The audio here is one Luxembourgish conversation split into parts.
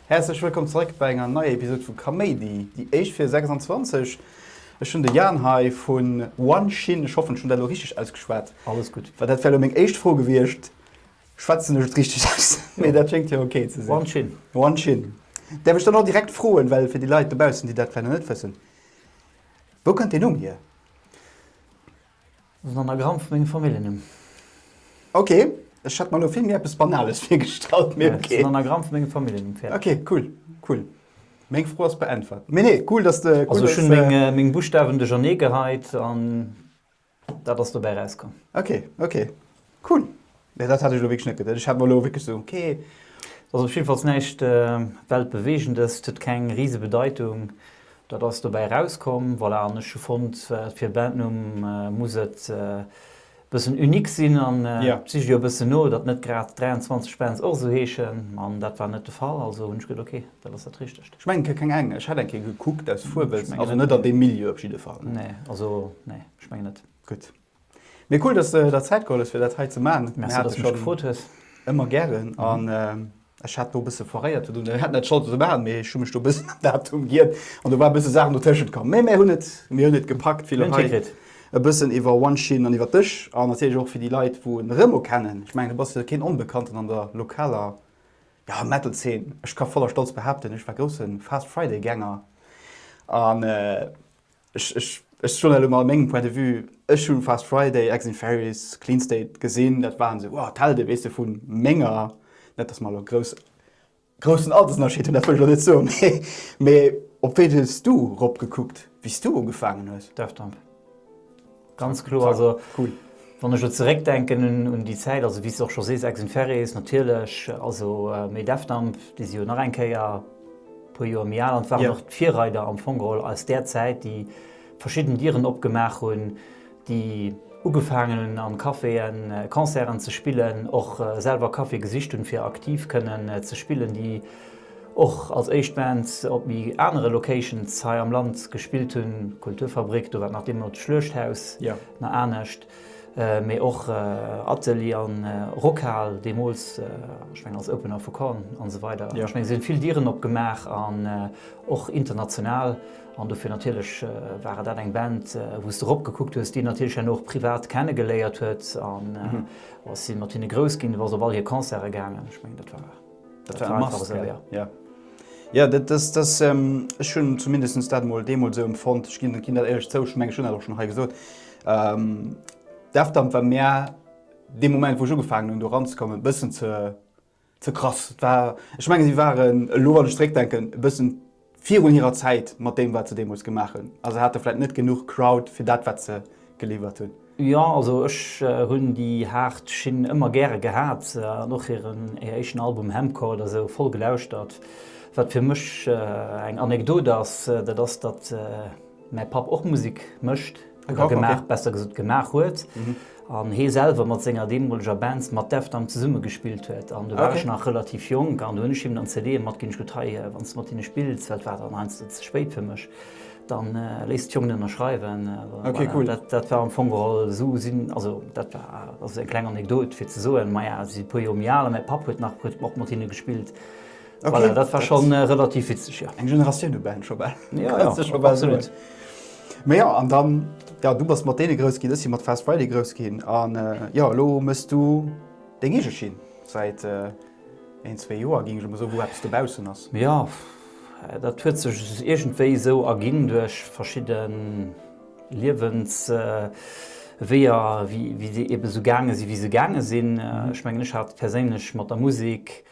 Häerzlech wëllkomm zeréck bei enger neier Episode vu Kaméidi, déi éischt fir 26. Ech hunn de Jaan hei vu One Shin, ech hoffen ech hunn dat elo richteg ausgeschwat. Alles gutt. Well dat wär elo meng éischt Fro gewiescht. Schwätzen ech et richteg aus? Mee dat schéngt jo ok ze sinn. Wan Chin. Wan Chin. Däerf ech dann och direkt froen, well fir déi Leit dobaussen, déi dat vläicht nach net wëssen, Wou kënnt deen Numm hier? Ass en Anagramm vu mengem Familljennumm. Ok, ech hat mer elo vill méi eppes Banales virgestallt, mee ok. Ass en Anagramm vu mengem Familljennumm, fäerdeg. Ok, cool, cool. Meng Fro ass beäntwert. Mee nee, cool, dass de. Also ech hunn meng Buschtawen duercherneegeheit an. Dat ass dobäi rauskomm. Ok, ok. Cool. Nee, dat hat ech elo wierklech net geduet. Ech hat mer elo wierklech esou, ok. Et ass op jidde Falls näischt Weltbeweegendes. Et huet keng rise Bedeitung. Dat ass dobäi rauskomm. Voilà. An ech hu fonnt, fir e Bandnumm muss et e bëssen unique sinn. An et sicht jo e bëssen no, datt net grad 23 Bands och esou heeschen. An dat war net de Fall. Also hunn ech geduet, ok, dat ass dat Richtegt. Ech mengen ke keng eng. Ech hat eng Kéier gekuckt aus Fuerwels, also net an deem Milieu op jidde Fall. Nee, also nee, ech mengen net. Gutt. Mee cool, dass de der Zäit geholl hues, fir dat hei ze man. Merci, dass de mech gefrot hues. Ëmmer gären. An ech hat do e bësse foréiert, well ech hat net d'Schold fir ze man, mee ech hu mech do e bëssen am Datum giet an do war e bësse Saachen dotëschent komm. Mee mir hunn et, mir hunn et gepackt. Mir hunn et hikritt. E bëssen iwwer Wanshin an iwwer dech an natierlech och fir déi Leit, wou en Remo kennen. Ech mengen, du bass jo keen Onbekannten an der lokaler Ja, Metal Zeen, ech ka voller Stolz behaapten, ech war grousse Fast Friday Gänger an ech, ech, ech soen elo mol mengem Point de Vue, ech hu Fast Friday, Ex in Fairies, Clean State gesinn, dat waren esou, wow, d'Helde, weess de, vu menger, net dass mer elo grouss, groussen Altersunnerscheed hunn, dat wëll ech elo net soen, mee, mee op wéi hues du eropgekuckt, wéi s du ugefaangen hues? Daft Punk. Ganz kloer, also wann ech lo zeréck denken un déi Zäit, also wéi s de och scho sees, Ex in Ferris natierlech, also méi Defdump, déi si jo nach eng Kéier e puer Joer méi al an waren och d'Virreider am Fong geholl aus där Zäit, déi verschidden Dieren opgemaach hunn, déi ugefaangen hunn a Caféë Concerten ze spillen, och selwer Caféë gesicht hunn, fir aktiv kënnen ze spillen, déi. och als éischt Band op méi anere Locations hei am Land gespillt hunn, Kulturfabrik, do war nach deemno d'Schluechthaus, nach anescht, mee och Atelier an Rockhal deemools, ech mengen als Opener vu Korn an esou weider. Ech mengen si hunn vill Dieren opgemaach an och international an dofir natierlech war dat eng Band wou s de erop gekuckt hues, déi natierlech herno och privat kenne geléiert huet an ass si mat hinne grouss ginn, du bass op all hir Concerte gaangen, ech mengen dat war. Dat war einfach esou, ja. Ja. Ja, dat, dat, dat, ech hunn zumindest dat mol deemools esou empfonnt. Ech ginn dat éierlech zou, ech menge ech hunn dat och schonn hei gesot. Ähm, D'Afdamp war mär dee Moment, wou ech ugefaangen hunn do ranzekommen, e bëssen ze ze krass. Et war, ech menge si waren elo, wann ech zeréckdenken, e bëssen, Virun hirer Zäit mat deem wat se deemools gemaach hunn a se hate vläit net genuch Crowd fir dat wat se geliwwert hunn. Jo, also ech hunn déi haart Schinn ëmmer gäre gehat an och hiren éischten Album Hemcourt a sou voll gelauschtert. Wat fir mech eng Anekdot ass, dat ass datt. mäi Papp och Musik mécht oder gemaach huet, besser gesot gemaach huet, an hee selwer mat senger deemoleger Band mat Deft am zesumme gespillt huet an do war ech nach relativ jonk an do hunn ech him dann CDe matginn, ech gutt hei wann s de mat hinne spills, well et war dann heiansdo ze spéit fir mech, dann léiss d'Jongen ënnerschreiwen. Voilà, dat dat war am Fong geholl esou sinn, also dat war also eng kleng Anekdot fir ze soen, maja si si e puer Joer méi al a mäi Papp huet nach huet och mat hinne gespillt, Voilà, dat war schon äh, relativ witzeg, ja. Eng Generatioun u Ben scho bal. Ja, ja, absolut. Mei ja, an dann, ja, du bass mat deene grouss ginn, ech si mat Fast Friday grouss ginn, an äh, ja, lo mëss du deng eege Schinn, säit äh, een, zwee Joer, ginn ech emmer sou, wou eppes dobaussen ass. Ja, äh, dat huet sech iergendwéi sou erginn, duerch verschidde Liewens... Äh, Wéier, wéi, wéi se ebe sou gaange si wéi se gaange sinn. Äh, mhm. Ech mengen, ech hat perséinlech mat der Musik,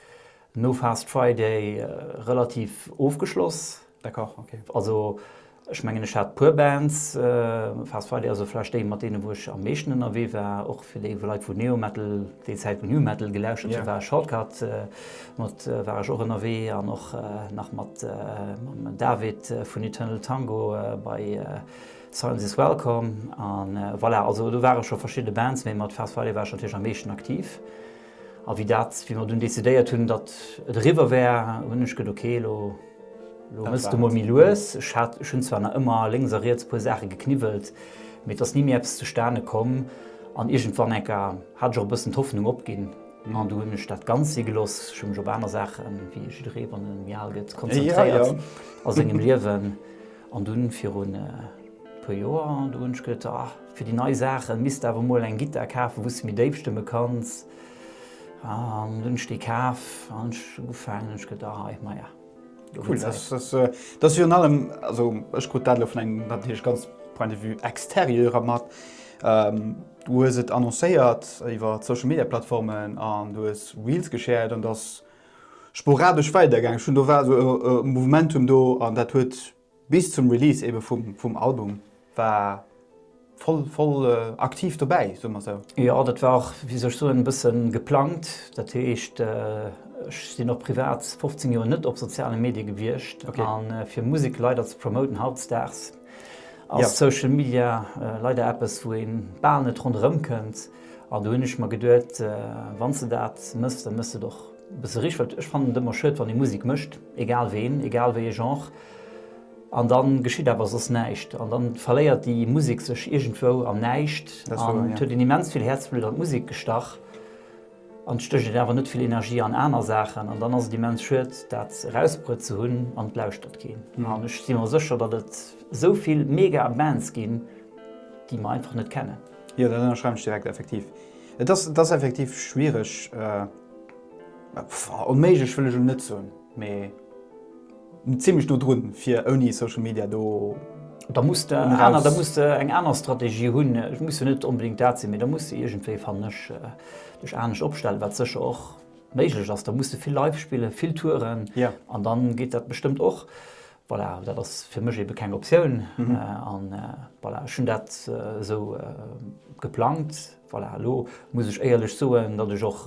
No Fast Friday relativ ofgeschloss. D'accord, ok. Also ech mengen ech hat puer Bands, Fast Friday ass jo vläicht déi mat deene wou ech am meeschten ënnerwee war, och fir déi Leit wou Neometal, déi Zäit wou Numetal gelauschtert hun, war Shortcut mat war ech och ënnerwee an och nach mat mam David vun Eternal Tango bei Silence Is Welcome an voilà, also do ware scho verschidde Bands, mee mat Fast Friday war ech natierlech am meeschten aktiv. A wéi dat, wéi mer dunn decidéiert hunn, datt et eriwwer wär, hunn ech gëtt, Okay, elo mëss de mol méi lues. Ech hat, ech hunn zwar nach ëmmer lénks a riets e puer Saache gekniwwelt, mee et ass ni méi eppes zustane komm. An iergendwann enker hat ech och e bëssen d'Hoffnung opginn an du hunn ech dat ganz si gelooss. Ech hu mech op aner Saachen, wéi jidderee wann e méi al gëtt, konzentréiert a sengem Liewen. An dunn virun e puer Joer, do hunn ech geduet, ah, fir déi nei Saachen misst de awer emol eng Gittar kafen, wou s de méi déif stëmme kanns. An dunn hunn ech déi kaf an hunn ech ugefaangen, hunn ech geduet, ah, hei, maja, lo wier Zäit. Cool. Dat ass virun allem, also ech krut dat elo vun engem natierlech ganz Point de vue extérieur mat, du hues et annoncéiert iwwer d'Social-Media-Plattformen an du hues Reels geschäert an dass sporadesch weidergaangen. Schonn do war esou e Movementum do an dat huet bis zum Release eebe vum vum Album war voll voll aktiv dobäi, soe mer esou. Jo, dat war och, wéi soll ech soen, e bësse geplangt. Dat heescht, ech sinn och privat 15 Joer net op soziale Medie gewiescht. An fir Musek leider ze promoten hautdesdaags, ass Social Media leider eppes wou een bal net ronderëm kënnt an do hunn ech mer geduet wann s de dat mëss da mëss de et och e bësse richteg well ech fannen et ëmmer schued wann ee Musek mécht egal ween egal wéie Genre an dann geschitt awer soss näischt an dann verléiert déi Musek sech iergendwou am Näischt an et huet een immens vill Häerzblutt an d'Musek gestach. An et stécht een awer net vill Energie an aner Saachen. An dann ass et immens schued, dat erausbruet ze hunn an et lauschtert keen. An ech si mer sécher, datt et esou vill mega Bands ginn, déi mer einfach net kennen. Jo, dat ënnerschreiwen ech direkt. Effektiv, et ass effektiv schwiereg, onméiglech wëll ech elo net soen, mee. Zimlech do drun fir ouni Social Media do. Da muss de aner, da muss de eng aner Strategie hunn. Et muss jo net onbedéngt dat sinn, mee da muss de iergendwéi, fannen ech, dech anescht opstellen, wat sécher och méiglech ass. Da muss de vill live spillen, vill touren an dann geet dat bestëmmt och. Voilà, dat ass fir mech ebe keng Optioun an voilà, ech hunn dat esou geplangt. Voilà, elo muss ech éierlech soen, datt ech och,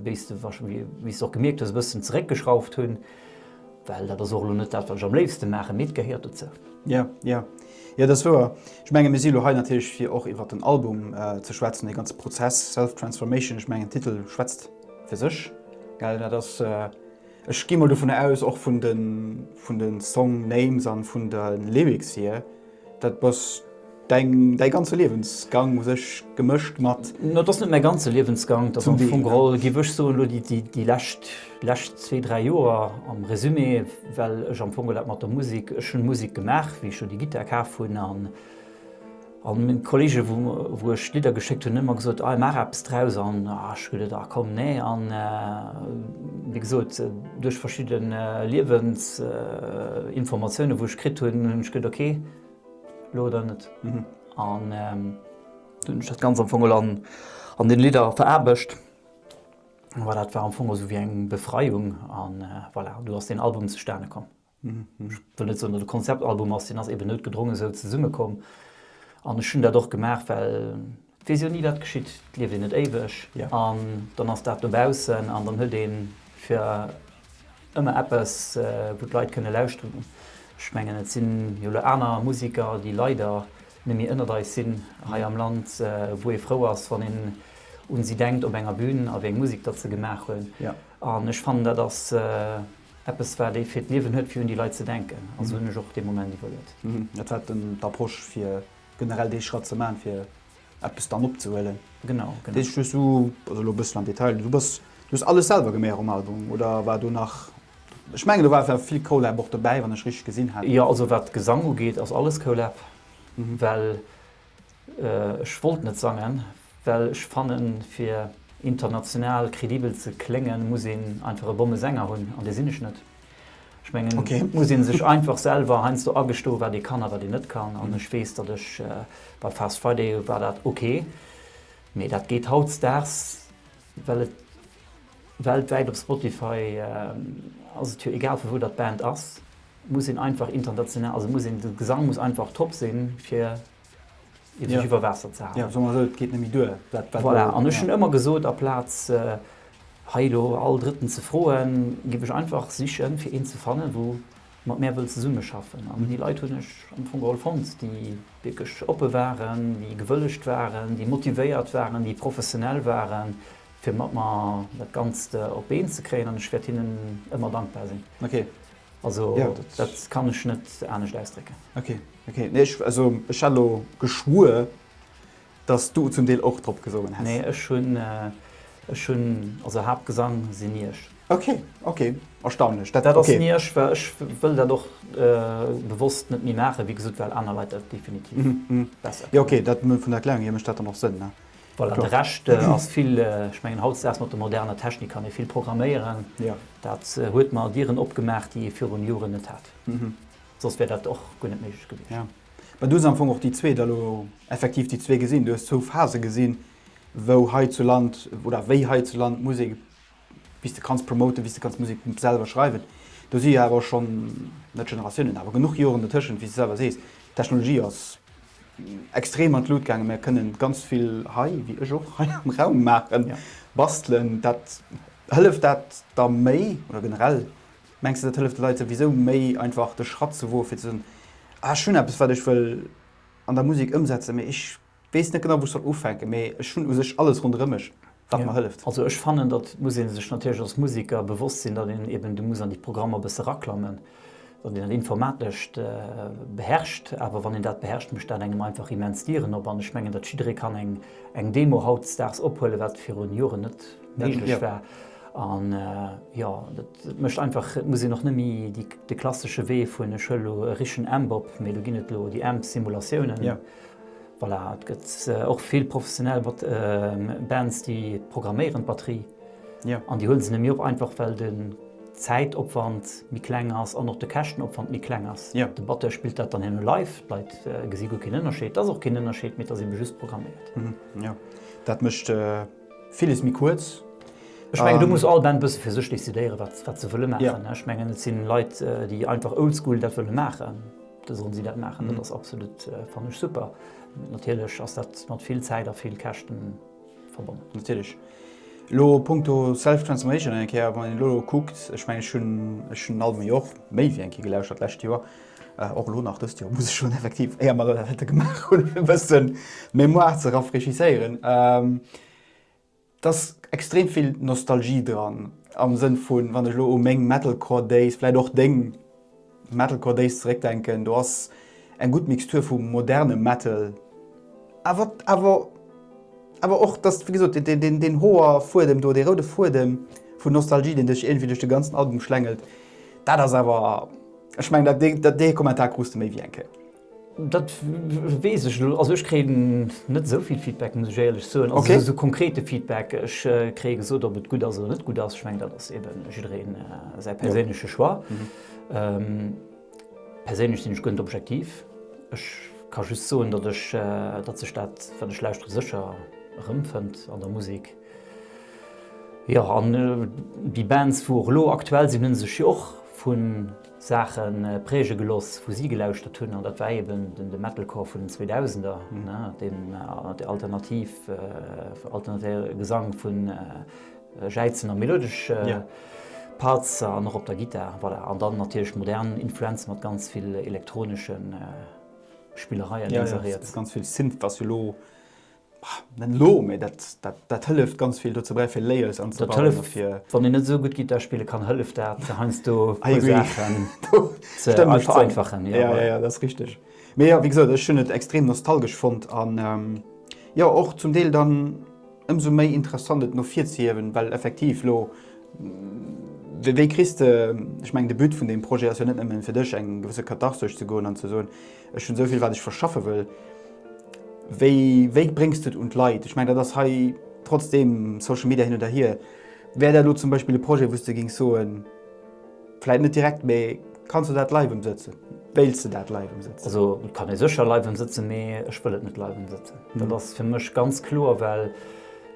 wéi s de wahrscheinlech och gemierkt hues, e bëssen zeréckgeschrauft hunn, well dat ass och elo net dat, wat ech am léifsten maachen, mee et gehéiert dozou. Jo, jo, jo, dat ass wouer. Ech mengen, mir si elo hei natierlech, fir och iwwer den Album ze schwätzen, dee ganze Prozess Self Transformation. Ech mengen, den Titel schwätzt fir sech, gell? Dat ass, ech gi mol dovunner aus, och vun de Song-Names a vun de Lyrics hier, Dat ass däi ganze Liewensgang u sech gemëscht mat. No, dat ass net mäi ganze Liewensgang, dat ass am Fong geholl, géif ech soen, elo déi lescht, lescht zwee, dräi Joer am Resumé, well ech am Fong geholl dat mat der Musek, ech hunn Musek gemaach, wéi ech jo déi Gittar kaf hunn an, an meng Kollegen, wou, wou ech Lidder geschéckt hunn, hunn ëmmer gesot, Ei, maach eppes draus an, ah, ech gesot, ah komm, nee an, wéi gesot, Duerch verschidde Liewensinformatiounen, wou ech kritt hunn, hunn ech gëtt, ok, lo oder net. An du hunn ech dat ganz am Fong an den Lidder veraarbecht. Voilà, dat war am Fong esou wéi eng Befreiung an voilà, an do ass deen Album zustane komm. ech wëll net soen, datt e Konzeptalbum ass, deen ass eben noutgedronge sou zesumme komm an ech hunn dat och gemaach, well et weess jo ni wat geschitt, et lieft een net éiweg an dann ass dat dobaussen an dann huet ee fir ëmmer eppes wou d'Leit kënne lauschteren. Ech mengen et sinn jo elo aner Museker, déi leider nemmi ënnert eis sinn hei am Land, wou ee frou ass wann een un si denkt op enger Bün a wéi eng Musek datt se gemaach hunn an ech fannen dat ass, Eppes, wat ee fir d'Liewen huet, fir un déi Leit ze denken. Also hunn ech och dee Moment iwwerluet. Dat war dann d'Approche, fir generell dee Schratt ze maachen, fir eppes dann opzehuelen. Genau, genau. Deet sech just u, also elo e bëssel am Detail, du bass, du hues alles selwer geméi och um Album oder war do nach, ech mengen do war awer vill Colab och dobäi, wann ech richteg gesinn hat? Jo, also wat Gesang ugeet, ass alles Colab, well Ech wollt net sangen, well ech fannen fir international kredibel ze kléngen muss een einfach e Bommesänger hunn, an dee sinn ech net. Ech mengen et muss een sech einfach selwer heiansdo agestoen wat ee kann a wat een net kann an ech weess datt ech bei Fast Friday war dat ok, mee dat geet hautzdags well et weltwäit op Spotify ass et jo egal vu wou datt d'Band ass, muss een einfach international, also muss een de Gesang muss einfach top sinn fir iwwer Waasser ze halen. Soen mer esou, et geet net méi duer. Voilà, an ech hunn ëmmer gesot, aplaz hei elo all Drëtten ze froen, géif ech einfach sichen, fir een ze fannen, wou mat mär wëll zesummeschaffen. An déi Leit hunn ech am Fong geholl fonnt, déi wierklech oppe waren, déi gewëllegt waren, déi motivéiert waren, déi professionell waren, fir mat mer dat Ganzt op d'Been ze kréien. An ech wäert hinnen ëmmer dankbar sinn. Also dat kann ech net anescht ausdrécken. Ok, nee ech also ech hat lo geschwuer dass du zum Deel och drop gesongen häss. Nee ech hun ech hun also Haaptgesang sin ni ech. Ok ok erstaunlech dat dat ass ni ech well ech wëll dat och bewosst net méi maachen wéi gesot well aner Leit dat definitiv besser kënnen. Mhm jo ok dat vun der Erklärung hier mécht dat dann och Sënn ne. Voilà de Rescht ass vill ech mengen hautdesdaags mat der moderner Technik kann ee vill programméieren dat huet mer Dieren opgemaach déi ee virun Joren net hat. Mhm Soss wär dat och guer net méiglech gewiescht. Jo. Mä du hues am Fong och déi zwee da lo effektiv déi zwee gesinn. Du hues zwou Phase gesinn, wou hei zu Land oder wéi hei zu Land d'Musek, bis de kanns promoten, bis de kanns Musek selwer schreiwen. Do si jo awer schonn, net Generatiounen, awer genuch Joren dertëschent, wéi s de selwer sees. D'Technologie ass extrem an d'Lut gaangen. Mir kënnen ganz vill hei, wéi ech och, hei am Raum maachen, bastelen. Dat, hëlleft dat da méi oder generell Mengs de dat hëlleft de Leit souwisou méi einfach de Schratt ze woe fir ze soen, ah ech hunn eppes wat ech wëll an der Musek ëmsetzen, mee ech weess net genau wou ech soll ufänken, mee ech hunn u sech alles ronderëm mech wat mer hëlleft? Also ech fannen dat muss ee sech natierlech als Museker bewosst sinn, datt een eben do muss an déi Programmer e bësse raklammen, datt een dat Informatescht beherrscht, awer wann een dat beherrscht mécht dat engem einfach immens Dieren op an ech mengen datt jidderee kann eng Demo hautdesdaags ophuele wat virun Joren net méiglech war. An jo, dat mécht einfach, et muss een och net méi de klassesche Wee vun, ech huelen elo e richen Amp op, mee do ginn et elo déi Amp-Simulatiounen. Voilà, et gëtt och vill professionell Bands, déi programméieren d'Batterie. An déi huele se nëmme op einfach, well de Zäitopwand méi kleng ass an och de Käschtenopwand méi kleng ass. De Batteur spillt dat dann herno live, d'Leit gesi guer keen Ënnerscheed. Et ass och keen Ënnerscheed méi, et ass ebe just programméiert. Dat mécht. Villes méi kuerz. Ech mengen do muss all Band bësse fir sech decidéiere wat se wëlle maachen. Ech mengen et sinn Leit déi einfach oldschool dat wëlle maachen, da sollen si dat maachen. Dat ass absolut fannen ech super. Natierlech ass dat mat vill Zäit a vill Käschten verbonnen. Natierlech. Elo punkto self transformation eng Kéier wann een elo kuckt, ech mengen ech hunn ech hunn den Album jo och méi wéi eng Kéier gelauschtert d'lescht Joer. Och elo nach dëst Joer, muss ech soen, effektiv, éier mer dat hätte gemaach hunn, fir e bëssen d'Mémoire ze rafraîchisséieren, dass extrem vill Nostalgie dran, am Sënn vu wann ech elo u meng Metalcore Days, vläicht och deng Metalcore Days zeréckdenken, do ass eng gutt Mixtur vu modernem Metal, awer, awer, awer och, dass, wéi gesot, deen Hoerfuedem do, dee roude Fuedem vun Nostalgie, deen dech iergendwéi duerch de ganzen Album schlängelt, dat ass awer. Ech mengen dat dee dat dee Kommentar krus de méi wéi eng Kéier. Dat weess ech elo, also ech kréien net esou vill Feedback, muss ech éierlech soen, also esou esou konkrete Feedback. Ech kréie gesot, ob et gutt ass oder net gutt ass. Ech mengen, dat ass eeben jidderee säi perséinleche Choix. Perséinlech sinn ech guer net objektiv. Ech ka just soen, datt ech, datt sech dat, wat ech lauschtere, sécher erëmfënnt an der Musek. Jo an déi Bands wou och elo aktuell sinn hunn sech jo och vu Saache präge gelooss wou si gelauschtert hunn an dat war eben de Metalcore vun den 2000er, deen alternativ alternatéiere Gesang vu Jäizen a melodesch Parts an och op der Gittar voilà. An dann natierlech modern Influenze mat ganz vill elektronesche Spillereien, lénks a riets. Ganz vill Synth ass jo elo Net elo, mee dat hëlleft ganz vill dozou bäi, fir Layers anzebauen. Dat hëlleft, fir. Wann een net esou gutt Gittar spille kann, hëlleft dat heiansdo, puer Saachen ze vereinfachen. Jo, jo, jo, dat ass richteg. Mee jo, wéi gesot, ech hunn et extrem nostalgesch fonnt an jo och zum Deel dann ëmsou méi interessant, et no vir ze hiewen, well effektiv elo, wéi kriss de, ech mengen, de But vun deem Projet ass jo net nëmmen, fir dech eng gewësse Katharsesch ze goen an ze soen, Ech hunn esouvill wat ech verschaffe wëll. Wéi, wéi bréngs du et un d'Leit? Ech mengen dat ass hei trotzdem Social Media hin oder hier. Wär dat elo zum Beispill e Projet wou s de géings soen, vläit net direkt, mee kanns du dat live emsëtzen? Wéilts de dat live emsëtzen? Also et kann ee sécher live emsëtzen, mee ech wëll et net live emsëtzen. Dat ass fir mech ganz kloer, well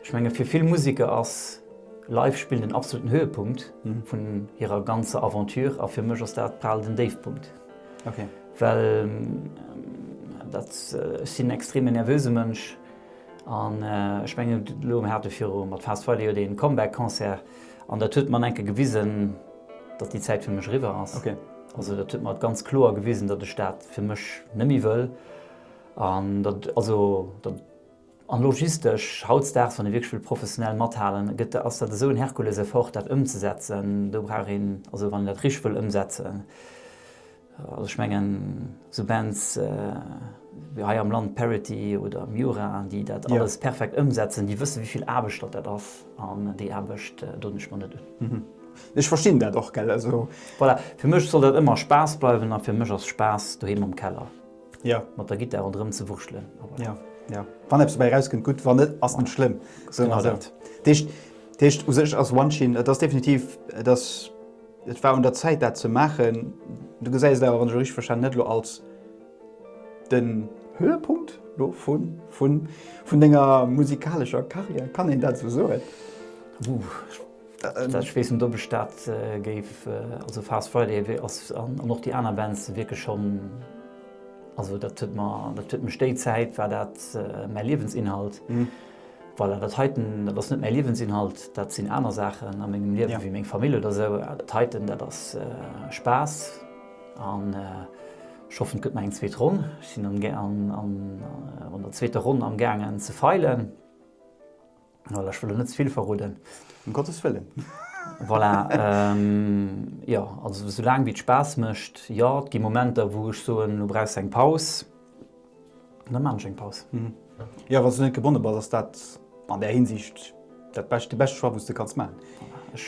ech menge fir vill Museker ass live spillen den absoluten Höhepunkt vun hirer ganzer Aventure a fir mech ass dat bal den Déifpunkt. Ok. Well dat, ech sinn en extreme nervöse Mënsch an ech mengen elo um Härte viru mat Fast Friday jo dee Comeback Concert an dat huet mer enke gewisen, datt déi Zäit fir mech eriwwer ass. Ok. Also dat huet mer ganz kloer gewisen, datt ech dat fir mech net méi wëll an datt, also datt. An logistesch, hautdesdaags, wann ee wierklech wëll professionell mathalen, gëtt, ass dat esou en Herkuleseffort, dat ëmzesetzen. Do brauch een, also wann een dat richteg wëll ëmsetzen, also ech mengen esou Bands wéi hei am Land Parity oder Miura, déi dat alles perfekt ëmsetzen, déi wësse wéivill Aarbecht datt dat ass. An déi Aarbecht doen ech mer net un. Ech verstinn dat och, gell, also. Voilà, fir mech soll dat ëmmer Spaass bleiwen a fir mech ass Spaass doheem am Keller. mat der Gittar ronderëm ze wurschtelen. Wann eppes dobäi erauskënnt, gutt, wann net, ass net schlëmm. Dat heescht, u sech ass Wanshin, et ass definitiv, et ass, et war un der Zäit dat ze maachen. Du gesäis et awer, wann ech et richteg verstanen hunn, net elo als den Höhepunkt elo vun denger musikalescher Karriär, kann een dat esou soen? Ech weess net op ech dat géif, also Fast Friday ass an och déi aner Bands wierklech schonn, also dat huet mer, dat huet mech déi Zäit war dat mäi Liewensinhalt. Voilà, dat heiten, dat ass net mäi Liewensinhalt, dat sinn aner Saachen a mengem Liewen, wéi meng Famill oder esou. Dat heiten, dat ass Spaass an ech hoffen et gëtt nach eng zweet Ronn. Ech sinn an der zweeter Ronn amgaangen ze feilen. Voilà, ech wëll der net ze vill verroden. Em Gottes Wëllen. Voilà, jo, also sou laang wéi et Spaass mécht. Jo, et gi Momenter, wou ech soen, elo brauchs de eng Paus. An da maachen ech eng Paus. Jo, wann s du net gebonne bass, ass dat an där Hinsicht dat bescht, de beschte Choix, wou s du kanns maachen. Ech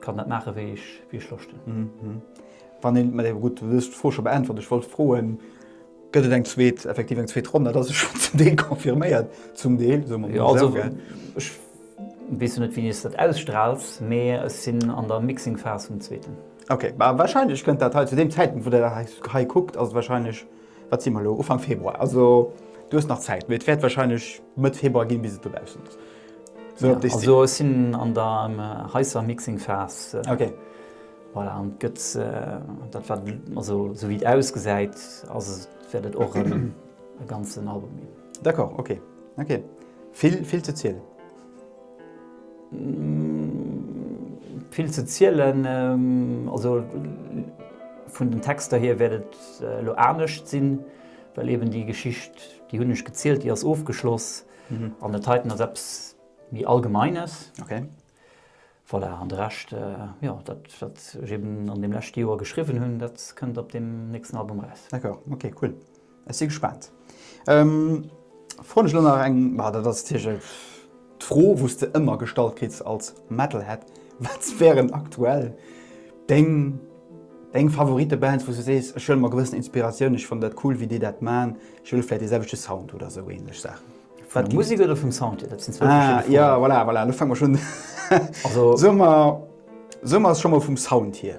kann dat maachen, wéi ech Loscht hunn. Wann een, gutt, du hues d'Fro scho beäntwert. Ech wollt froen. Gëtt et eng zweet, effektiv eng zweet Ronn? Dat ass jo schonn zum Deel confirméiert, zum Deel, soe mer mol esou. Jo, also ech weess jo net, wéini s de dat ausstrahls, mee ech sinn an der Mixing-Phas vum zweeten. Okay, ma wahrscheinlech kënnt dat hei zu deem Zäitpunkt, wou der dat hei kuckt, ass et wahrscheinlech, wat si mer elo, Ufank Februar. Also do ass nach Zäit, mee et wäert wahrscheinlech Mëtt Februar ginn, bis et dobaussen ass. Sou, also ech sinn an der heißer Mixing-Phas. Okay. Voilà, an et gëtt, dat wat, also esou wéi et ausgesäit, ass et, wäert et och e ganzen Album ginn. D'accord, ok, ok. Vill, vill ze zielen? Vill ze zielen, also vun den Texter hier wäert et elo anescht sinn, well eeben déi Geschicht, déi hunn ech gezielt, déi ass ofgeschloss. An dat heiten ass eppes méi Allgemeines. Ok. Voilà, an de Rescht, jo, dat, wat ech eben an deem leschte Joer geschriwwen hunn, dat kënnt op deem nächsten Album eraus. D'accord, ok, cool. Ech si gespaant. Froen ech elo nach eng, bah, dat ass d'Fro, wou s de ëmmer gestallt kriss als Metalhead, Wat wären aktuell deng, deng Favorite-Bands, wou s de sees, ech huele mer gewëssen Inspiratioun, ech fannen dat cool, wéi déi dat man, ech wëll vläicht dee selwechte Sound oder esou ähnlech Saachen? Vun der Musik oder vum Sound hier? Dat sinn zwou verschidde Froen. Ah, ja, voilà, voilà, lo fange mer schonn. Also. Soe mer, soe mer, ass scho mol vum Sound hier.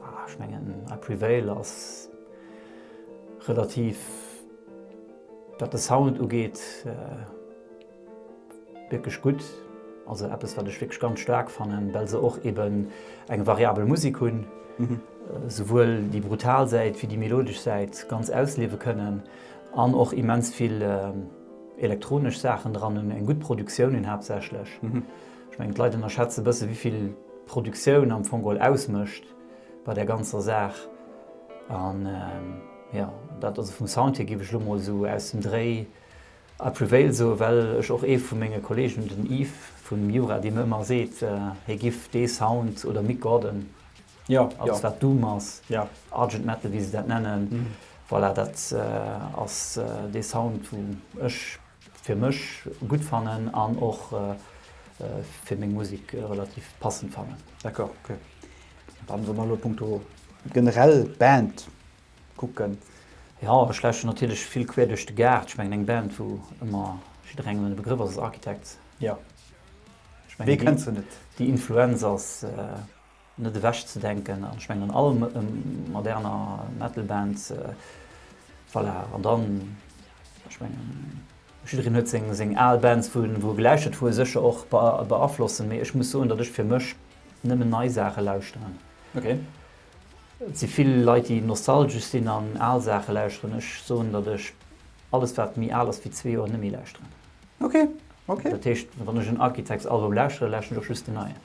Ah, ech mengen, I Prevail ass relativ, wat de Sound ugeet, wierklech gutt. Also eppes, wat ech wierklech ganz staark fannen, well se och eben eng variabel Musik hunn, souwuel déi brutal Säit wéi déi melodesch Säit ganz ausliewe kënnen. An och immens vill elektronesch Saachen dran hunn, eng gutt Produktioun hunn haaptsächlech. Ech mengen d'Leit ënnerschätze bësse wéivill d'Produktioun am Fong geholl ausmécht bei där ganzer Saach. An jo, dat also vum Sound hier, géif ech elo mol esou aus dem Dréi I prevail soe well ech och ee vu menge Kolleegen hunn, den Yves vum Miura, dee mir ëmmer seet, hie giff dee Sound oder Mick Gordon Jo, alles wat Doom ass, Argent Metal wéi se dat nennen, voilà dat ass dee Sound wou ech fir mech gutt fannen an och fir meng Musek relativ passend fannen. D'accord, ok. Dann wa mer elo punkto generell Band kucken. Jo, ech lauschteren natierlech vill quer duerch de Gaart. Ech mengen eng Band wou ëmmer jidderengem e Begrëff ass, ass Architects. Jo, wee kennt se net. Déi Influenz ass net ewech ze denken an ech mengen an all moderner Metal Band voilà an dann ech mengen jiddereen huet seng seng al Bands wou en wou e gelauschtert wou e sécher och beaflossen mee ech muss soen datt ech fir mech nëmmen nei Saache lauschteren. Ok. Et si vill Leit déi nostalgesch sinn an al Saache lauschteren, ech soen datt ech alles wat méi al ass wéi zwee Joer net méi lauschteren. Ok, ok. Dat heescht wann ech en Architects Album lauschtere lauschteren ech och just den neien.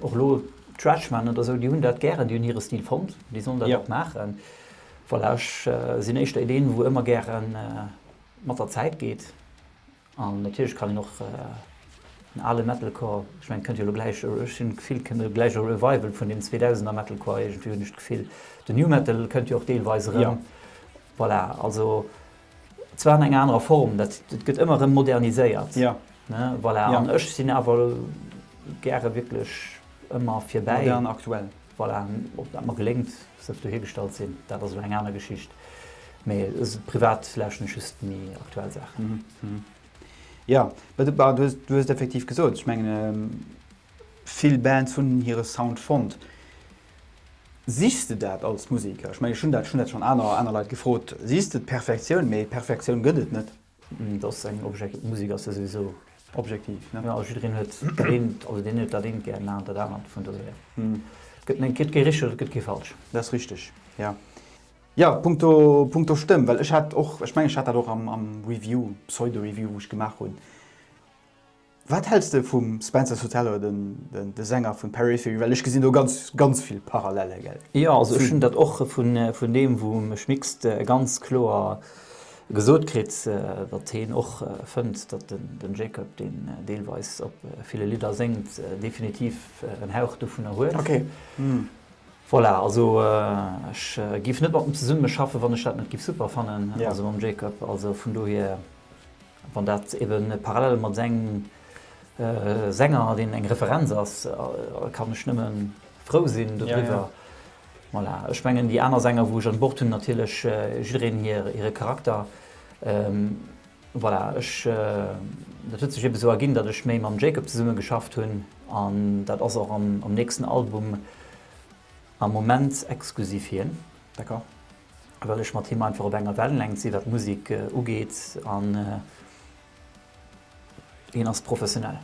Och elo d'Stretchman oder esou, déi hunn dat gären, déi hunn hire Stil fonnt, déi sollen dat och maachen. Voilà, ech sinn éischter ee deen, wou ëmmer gäre mat der Zäit geet. An natierlech kann een och den ale Metalcore, ech mengen, kënnt jo elo gläich, ech hunn d'Gefill, kënnt elo gläich e Revival vun deem Zweedausender Metalcore, iergendwéi hunn ech d'Gefill. Den Nu Metal kënnt jo och deelweis erëm. Voilà, also. Zwar an enger anerer Form, dat gëtt ëmmer erëm moderniséiert. Jo. Ne? Voilà. Ja. An ech sinn awer gäre wierklech ëmmer fir bäi. Modern, aktuell. Voilà. Ob dat mer geléngt, sëlf dohigestalt sinn, dat ass elo eng aner Geschicht. Mee privat lauschten ech just méi aktuell Saachen. Mhm. Ja, du hues, du hues et effektiv gesot. Ech mengen, vill Bands hunn hire Sound fonnt. Sichs de dat als Museker? Ech mengen, ech hunn dat schon dat schon aner aner Leit gefrot. Sichs de d'Perfektioun? Mee Perfektioun gëtt et net. Et ass eng Objek Musek ass jo souwisou objektiv, ne? Jo, jiddereen huet dat eent, also deen huet dat eent gär, deen anert dat anert. Vun dosou hier gëtt net gëtt kee richteg, et gëtt kee falsch. Dat ass richteg, jo. Jo, punkto punkto Stëmm, well ech hat och, ech mengen, ech hat dat och am am Review, Pseudo-Review, wou ech gemaach hunn, Wat häls de vum Spencer Sotelo, de Sänger vun Periphery? Well ech gesinn do ganz, ganz vill Parallelle, gell? Jo, also ech hunn dat och vun deem vum Schmickst ganz kloer gesot kritt, datt hien och fënnt, datt den Jacob, deen deelweis op ville Lidder séngt, definitiv en Hauch dovunner huet. Ok. Voilà, also ech giff net mat em zesummen schaffen, wann ech dat net giff super fannen, also mam Jacob, also vun dohier. Wann dat ebe parallel mat engem Sänger, deen eng Referenz ass, kann ech nëmme frou sinn doriwwer. Voilà, ech mengen déi aner Sänger, wou ech un Bord hunn, natierlech jiddereen hire Charakter. Voilà, ech, dat huet sech ebe sou erginn, datt ech méi mam Jacob zesumme geschafft hunn an dat ass och am nächsten Album am Moment exklusiv hien. D'accord. well ech mat him einfach op enger Wellenlängt sinn, wat Musek ugeet an hien ass professionell.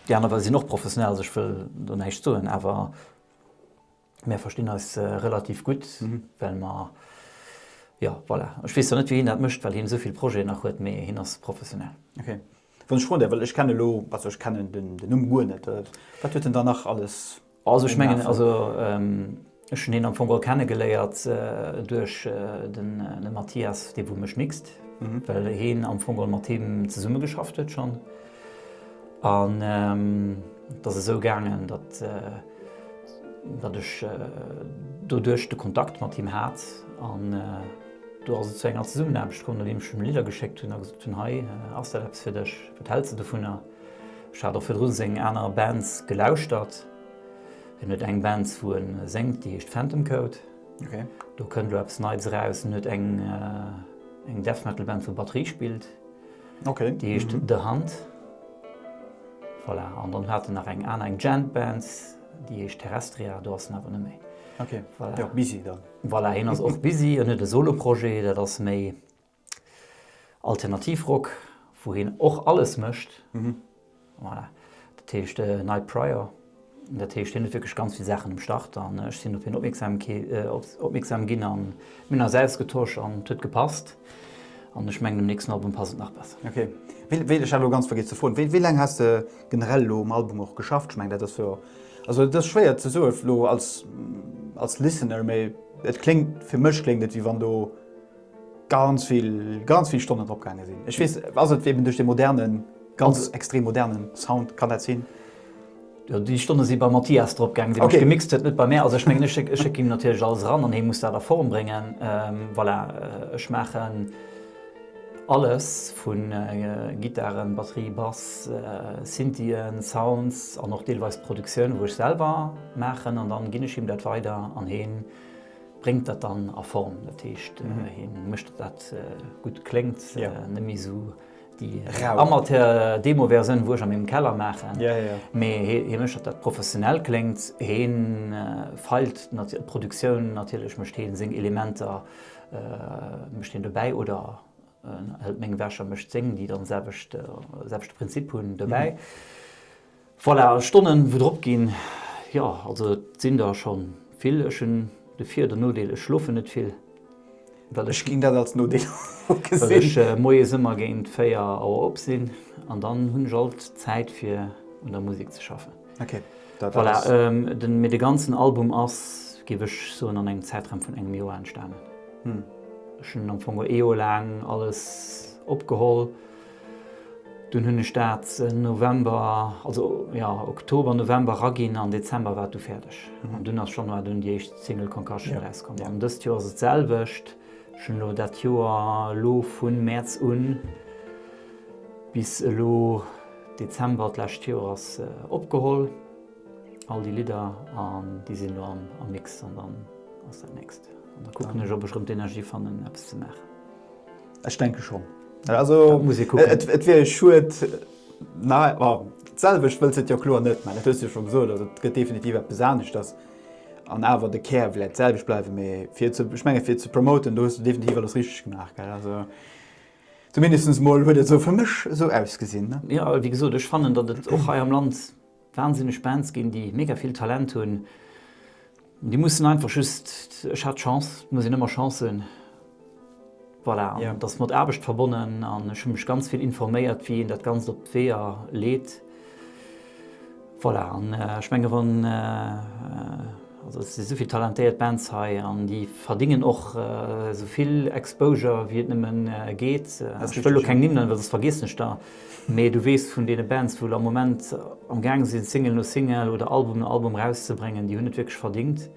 Déi aner sinn och professionell, also ech wëll do näischt soen, awer mär verstinn eis relativ gutt, well mer, jo voilà. Ech weess zwar net, wéi hien dat mécht, well hien esou vill Projeten nach huet, mee hien ass professionell. Wann ech froen däerf, well ech kenne elo, also ech kennen den Numm guer net, wat huet en dann nach alles gemaach? Also ech mengen, also ech hunn hien am Fong geholl kenne geléiert duerch den Mathias de Boumech Mixte, well hien am Fong geholl mat him zesumme geschafft huet schonn. An et ass esou gaangen, datt ech doduerch de Kontakt mat him hat an. Do ass et zu enger Zesummenaarbecht komm, nodeem ech him Lidder geschéckt hunn a gesot hunn, hei ass dat eppes fir dech, wat häls de dovunner? Ech hat och virdru seng aner Bands gelauschtert. Hien huet eng Bands, wou e séngt, déi heescht Phantom Code. Do kënnt elo eppes Neits eraus. Hien huet eng Death Metal Band, wou Batterie spillt, déi heescht The Hunt. Voilà, an dann hat en nach eng aner, eng Djent Band, déi heescht Terrestria. Do ass en awer net méi. Voilà. Busy dann. Voilà, hien ass och busy, en huet e Solo-Projet, dat ass méi Alternativ-Rock, wou hien och alles mécht. Voilà, dat heescht Night Prior. Dat heescht, hien huet wierklech ganz vill Saachen um Start an ech sinn op hien opmierksam ginn a mir hunn eis ausgetosch an et huet gepasst. An ech mengen dem nächsten Album passt et nach besser. Ok, wéilt ech hat elo ganz vergiess ze froen, wéi laang has de generell elo um Album och geschafft? Ech mengen dat ass jo, also et ass schwéier ze soe elo als als Listener, mee et kléngt, fir mech kléngt et wéi wann do ganz vill, ganz vill Stonnen drop gaange sinn. Ech weess, ass et eben duerch de modernen, ganz extrem modernen Sound, kann dat sinn? Jo déi Stonne si beim Mathias drop gaangen, deen ech gemixt huet, net bei mär. Also ech mengen ech schécke him natierlech alles eran an hee muss dat a Form bréngen. Voilà, ech maachen alles vu Gittaren, Batterie, Bass, Synthien, Sounds an och deelweis d'Produktioun wou ech selwer maachen an dann ginn ech him dat weider an heen bréngt dat dann a Form. Dat heescht heen mécht dat dat gutt kléngt, net méi esou Déi Amateur-Demo-Versioun, wou ech a mengem Keller maachen. Mee hie mécht, datt dat professionell kléngt. Hie feilt d'Produktioun natierlech, mécht hie seng Elementer, mécht hien dobäi oder hëlt meng ewech a mécht seng, déi dann selwecht Prinzip hunn, dobäi. Voilà, Stonnen wou drop ginn, jo also et sinn der schonn vill. Ech hunn de Vir den Nodeel, ech schlofen net vill, well ech ginn dat als Nodeel ugesinn, well ech moies ëmmer géint 4 Auer op sinn an dann hunn ech alt Zäit fir un der Musek ze schaffen. Voilà, mee de ganzen Album ass, géif ech soen, an engem Zäitraum vun engem Joer entstanen. Ech hunn am Fong ee Joer laang alles opgeholl. Dunn hunn ech dat November, also jo, Oktober, November eraginn an Dezember war et du fäerdeg. An dunn ass Januar dunn déi éischt Single Concussion erauskomm. An dëst Joer ass et d'selwecht. Ech hunn elo dat Joer elo vu Mäerz u bis elo Dezember d'lescht Joers opgeholl, all déi Lidder, an déi sinn elo am Mix. An dann ass dat nächst. An da kucken ech, ob ech erëm d'Energie fannen, eppes ze maachen. Ech denke schonn. Also et wier e Schued d'selwecht wëlls et jo kloer net, mä dat hues de jo scho gesot. Also et gëtt definitiv eppes aneschters an awer de Kär wlät d'selwecht bleiwen, mee fir ze ech menge fir ze promoten, do hues de definitiv alles richteg gemaach. Also zumindest mol huet et esou fir mech esou ausgesinn. Jo wéi gesot, ech fannen, datt et och hei am Land Wahnsinneg Bands ginn, déi mega vill Talent hunn. Déi mussen einfach just, ech hat Chance, et muss een ëmmer Chance hunn, voilà. An et ass mat Aarbecht verbonnen an ech hu mech ganz vill informéiert, wéi een dat Ganzt op d'Weeër leet, voilà. An ech menge wann, also et si esouvill talentéiert Bands hei an déi verdingen och esouvill Exposure wéi et nëmme geet. Ech wëll elo keng Nimm nennen, well soss vergiessen ech der. Mee du weess vun deene Bands wou lo am Moment am gaang sinn Single no Single oder Album no Album rauszebréngen, déi hunn et wierklech verdingt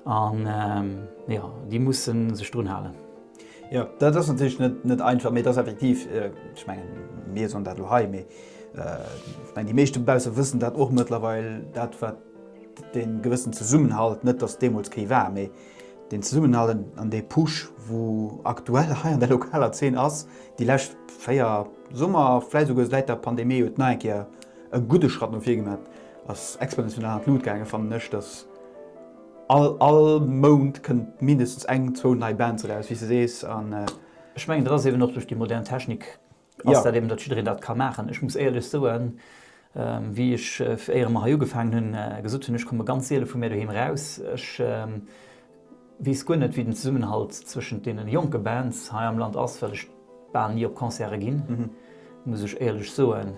an jo déi musse sech drun halen. Jo dat ass natierlech net einfach, mee et ass effektiv, ech mengen mir soen dat lo hei, mee ech mengen déi meeschte dobausse wëssen dat och mëttlerweil, dat wat dee gewëssen Zesummenhalt, net datt deemools kee war, mee. Deen Zesummenhalt an dee Push, wou aktuell hei an der lokaler Zeen ass, déi lescht véier Summer, vläit esouguer säit der Pandemie, huet nach eng Kéier e gudde Schratt no vir gemaach, ass exponentiell an d'Lut gaangen, fannen ech, dass all all Mount kënnt mindestens eng, zwou nei Bands eraus, wéi s de sees, an. Ech mengen, dat ass eeben och duerch déi modern Technik ass dat eben, datt jiddereen dat ka maachen. Ech muss éierlech soen, wéi ech éiere mer hei ugefaangen hunn, gesot hunn, ech komme ganz seele vu mär doheem eraus. Ech weess guer net, wéi den Zesummenhalt zwëschent deene jonke Bands hei am Land ass, well ech bal ni op Concerte ginn, muss ech éierlech soen.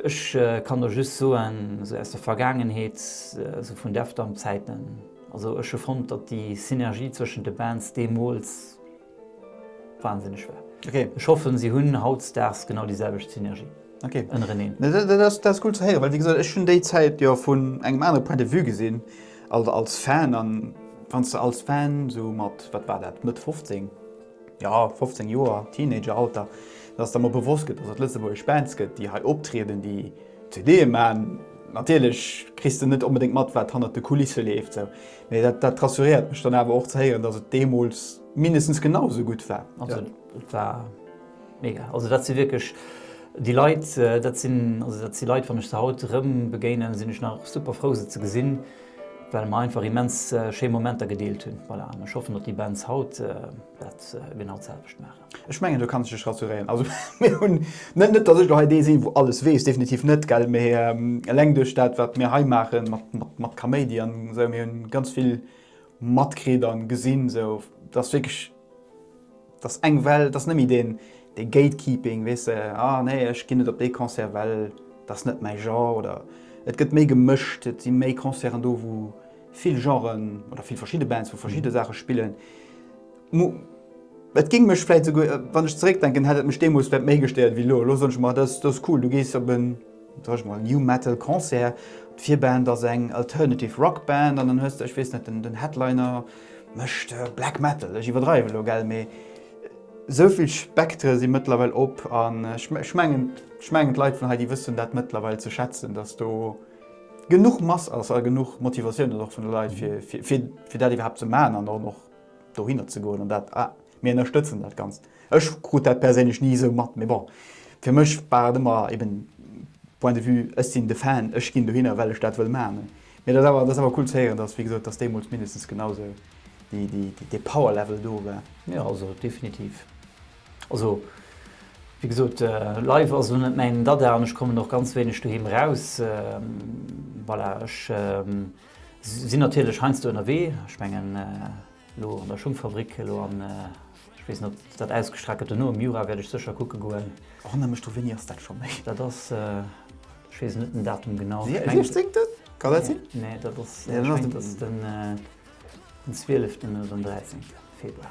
Ech kann der just soen, esou aus der Vergaangenheet, esou vun Def Damp Zäiten, also ech hu fonnt, datt déi Synergie zwëschent de Bands deemools, Wahnsinneg war. Okay. Ech hoffen si hunn hautzdags genau déi selwecht Synergie okay. ënnereneen. Nee, dat ass, dat ass cool ze héieren, well wéi gesot, ech hunn déi Zäit jo vun engem anere Point de vue gesinn, also als Fan. An wann s de als Fan sou mat, wat war dat, Mëtt 15, jo 15 Joer, Teenageralter, dass der emol bewosst gëtt, dass et lëtzebuergesch Bands gëtt, déi hei optrieden, déi CDe man, natierlech kriss de net onbedéngt mat, wat hannert de Kulisse leeft sou. Mee dat, dat rassuréiert mech dann awer och ze héieren, datt et deemools mindestens genau esou gutt war. Also et war mega. Also dat si wierklech déi Leit, dat sinn, also dat si Leit, wann ech se haut erëm begéinen, sinn ech nach super frou se ze gesinn, well mer einfach immens schéi Momenter gedeelt hunn. Voilà, an ech hoffen, datt déi Bands haut dat genau d'selwecht maachen. Ech mengen do kanns de dech rassuréieren. Also mir hunn, net net datt ech elo hei dee sinn wou alles weess, definitiv net gell, mä eleng duerch dat wat mir hei maachen mat mat mat Kaméidi an esou, mir hunn ganz vill matkritt an gesinn esou, datt wierklech datt eng Well, datt net méi deen dee Gatekeeping weess de, ah nee ech ginn net op dee Concert well dat ass net mäi Genre oder et gëtt méi gemëscht, et si méi Concerten do wou vill Genren oder vill verschidde Bands vu verschidde Saache spillen. Et géing mech vläit souguer, wann ech zeréckdenken, hätt et mech deemools vläit méi gestéiert wéi elo. Elo soen ech mer, dat ass cool, du gees op en, soen ech mol, New Metal Concert, d'Virband ass eng Alternative Rock Band an dann hues de, ech weess net, den Headliner mécht Black Metal. Ech iwwerdreiwen elo, gell, mee esou vill Spektre si mëttlerweil op an ech mengen, ech mengen d'Leit vun hei, déi wëssen dat mëttlerweil ze schätzen, datt do genuch Mass ass a genuch Motivatioun ass och vun de Leit fir dat iwwerhaapt ze maachen an dann och dohinner ze goen an dat, mir ënnerstëtzen dat Ganzt. Ech krut dat perséinlech ni esou mat, mee bon, fir mech war et ëmmer eben Point de vue, ech sinn de Fan, ech ginn dohinner, well ech dat wëll maachen. Mee dat ass awer, dat ass awer cool ze héieren, dass, wéi gesot, dass deemools mindestens genau esou déi, déi, dee Power-Level do war. Jo, also definitiv. Also, wéi gesot, live ass elo net mäin Dada an ech kommen och ganz wéineg doheem eraus. Voilà, ech. Sinn natierlech heiansdo ënnerwee, ech mengen elo an der Schungfabrik elo an ech weess net ob dat ausgestrahlt gëtt dono, am Jura wäert ech sécher kucke goen. Wann der mech do, wéini ass dat scho méi? Dat ass, ech weess net den Datum genau. Dee siechzéngten? Kann dat sinn? Nee, dat ass, ech mengen dat ass den zwieleften oder den dräizéngte Februar.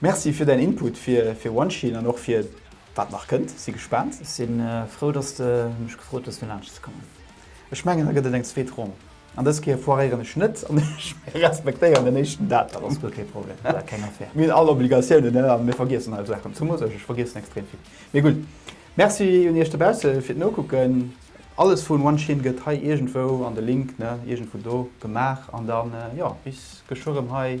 Merci fir däin Input fir One Shield an och fir wat nach kënnt. Si gespaant. Ech sinn frou dass de mech gefrot hues fir laanscht ze kommen. Ech mengen da gëtt et eng zweet Ronn. An dës Kéier foiréieren ech net an ech respektéieren den éischten Datum. Ass guer kee Problem, war keng Affaire. Mir hunn all Obligatiounen ne an mir vergiessen all Saachen. Zumools ech, ech vergiessen extrem vill. Mee gutt. Merci un iech dobausse fir d'Nokucken. Alles vun One Shield gëtt hei iergendwou an de Link ne iergendwou do gemaach an dann jo bis geschwë rëm hei